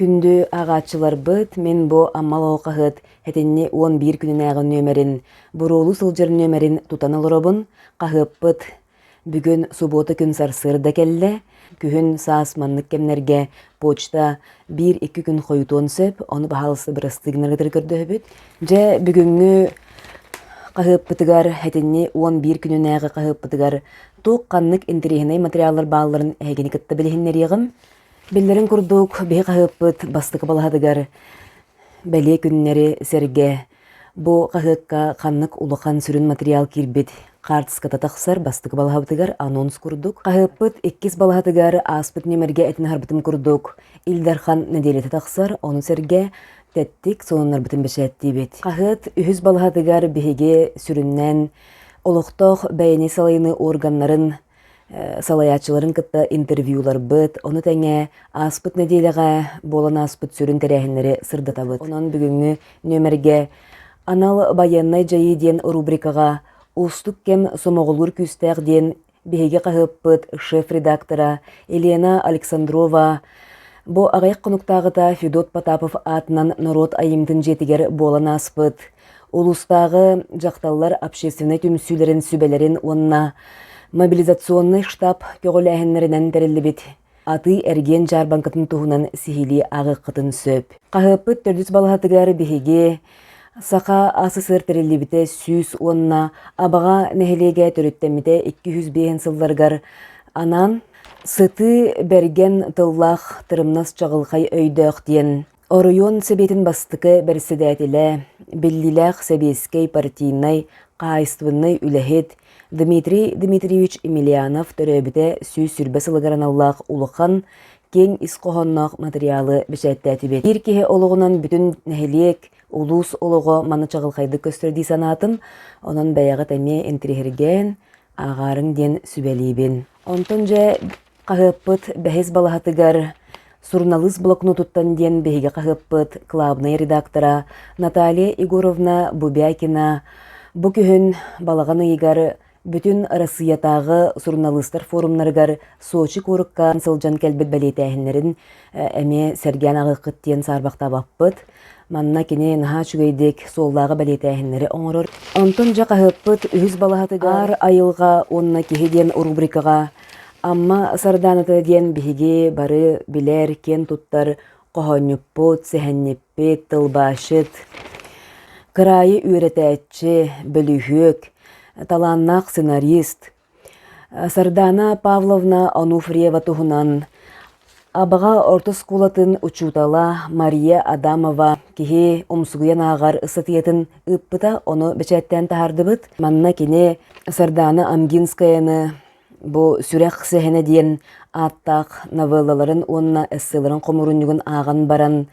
Күндү ааҕааччыларбыт, мин бу Амма Алҕаһыт этинни уон биир күнүнээҕи нүөмэрин, буруолуу сылдьар нүөмэрин тутан олоробун. Хаһыаппыт бүгүн субуота күн сарсыарда кэллэ. Күһүн саас маннык кэмнэргэ почта биир икки күн хойутуон сөп. Ону баһаалыста бырастыы гынаргытыгар көрдөһөбүт. Дьэ, бүгүҥҥү хаһыаппытыгар этинни уон биир күнүнээҕи хаһыаппытыгар туох ханнык интэриэһинэй материаллар баалларын эһигини кытта билиһиннэриэҕим. Биллэрин курдук, биһи хаһыаппыт бастакы балаһатыгар бэлиэ күннэри сэргэ бу хаһыакка ханнык улахан сүрүн материал киирбит хаартыската тахсар бастакы балаһабытыгар анонс курдук. Хаһыаппыт иккис балаһатыгар ааспыт нүөмэргэ этин аһарбытым курдук Ил Дархан нэдиэлэтэ тахсар, ону сэргэ тэттик сонуннарбытын бэчээттиибит. Хаһыат үһүс балаһатыгар биһиги сүрүннээн олохтоох бэйэни салайыныы органнарын салайааччыларын кытта интервьюларбыт, ону тэҥэ ааспыт нэдиэлэҕэ буолан ааспыт сүрүн тэрээһиннэри сырдатабыт. Онон бүгүҥҥү нүөмэргэ анал байыаннай дьайыы диэн рубрикаҕа уустук кэм сомоҕолуур күүстээх диэн биһиги хаһыаппыт шеф-редактора Елена Александрова бу аҕыйах хонуктааҕыта Федот Потапов аатынан норуот айымньытын дьиэтигэр буолан ааспыт Улуустааҕы дьахталлар общественнай түмсүүлэрин сүбэлэрин уонна мобилизационнай штаб көҕүлээһиннэринэн тэриллибит атыы-эргиэн дьаарбаҥкатын туһунан сиһилии ааҕыаххытын сөп. Хаһыаппыт төрдүс балаһатыгар биһиги Саха СССР тэриллибитэ сүүс уонна Абаҕа нэһилиэгэ төрүттэммитэ 205 сылларыгар анаан «Сытыы бэргэн тыллаах тырымнас чаҕылхай өйдөөх» диэн Оройуон Сэбиэтин бастакы бэрэссэдээтэлэ, биллиилээх сэбиэскэй партийнай хаһаайыстыбыннай үлэһит Дмитрий Дмитриевич Емельянов төрөөбүтэ сүүс сүүрбэ сылыгар аналлаах улахан, киэҥ ис хоһоонноох матырыйаалы бэчээттээтибит. Биир киһи олоҕунан бүтүн нэһилиэк, улуус олоҕо маны чаҕылхайдык көстөр дии санаатым. Онон бэйэҕит эмиэ интириэһиргээн, ааҕаарыҥ диэн сүбэлиибин. Онтон дьэ хаһыаппыт бэһис балаһатыгар суруналыыс блокнотуттан диэн биһиги хаһыаппыт клаабынай редактора Наталья Егоровна Бубякина бу күһүн балаҕан ыйыгар бүтүн Арассыыйатааҕы суруналыыстар форумнарыгар Сочи куоракка сылдьан кэлбит бэлиэтээһиннэрин эмиэ сэргээн аҕыаххыт диэн саарбахтаабаппыт. Манна кини наһаа үчүгэйдик суоллааҕы бэлиэтээһиннэри оҥорор. Онтон дьэ хаһыаппыт үһүс балаһатыгар Аар айылҕа уонна киһи диэн рубрикаҕа Амма Сардааната диэн биһиги бары билэр, киэн туттар хоһоонньуппут, сэһэнньиппит, тылбаасчыт, кыраайы үөрэтээччи, бөлүһүөк, талааннаах сценарист, Сардаана Павловна Онуфриева туһунан Абаҕа орто оскуолатын учуутала Мария Адамова киһи умсугуйан ааҕар ыстатыйатын ыыппыта, ону бэчээттээн таһаардыбыт. Манна кини Сардаана Амгинскаяны бу Сүрэх сэһэнэ диэн ааттаах новеллаларын уонна эсселарын хомурунньугун ааҕан баран,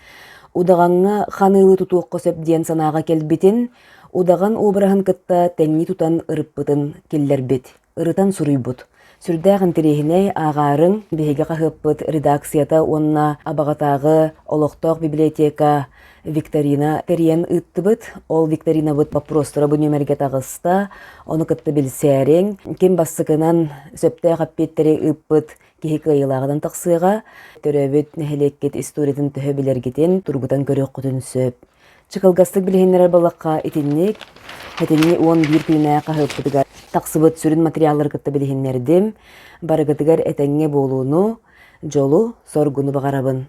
удаҕаҥҥа ханыы тутуохха сөп диэн санааҕа кэлбитин, Удаҕан уобараһын кытта тэҥнии тутан ырыппытын киллэрбит, ырытан суруйбут. Сүрдээх интириэһинэй, ааҕаарын биһиги хаһыаппыт редакцията уонна Абаҕатааҕы олохтоох библиотека викторина тэрийэн ыыттыбыт. Ол викторинабыт боппуруостара бу нүөмэргэ таҕыста. Ону кытта билсээриҥ. Ким бастакынан сөптөөх эппиэттэри ыыппыт киһи кыайыылааҕынан тахсыаҕа. Төрөөбүт нэһилиэккит историятын төһө билэргитин, тургутан көрүөххүтүн сөп. Чыкылгастык билиһиннэрэр буоллахха, итинник этинни уон биир күннээх хаһыаппытыгар тахсыбыт сүрүн материаллары кытта билиһиннэрдим. Барыгытыгар этэҥҥэ буолууну, дьолу, соргуну баҕарабын.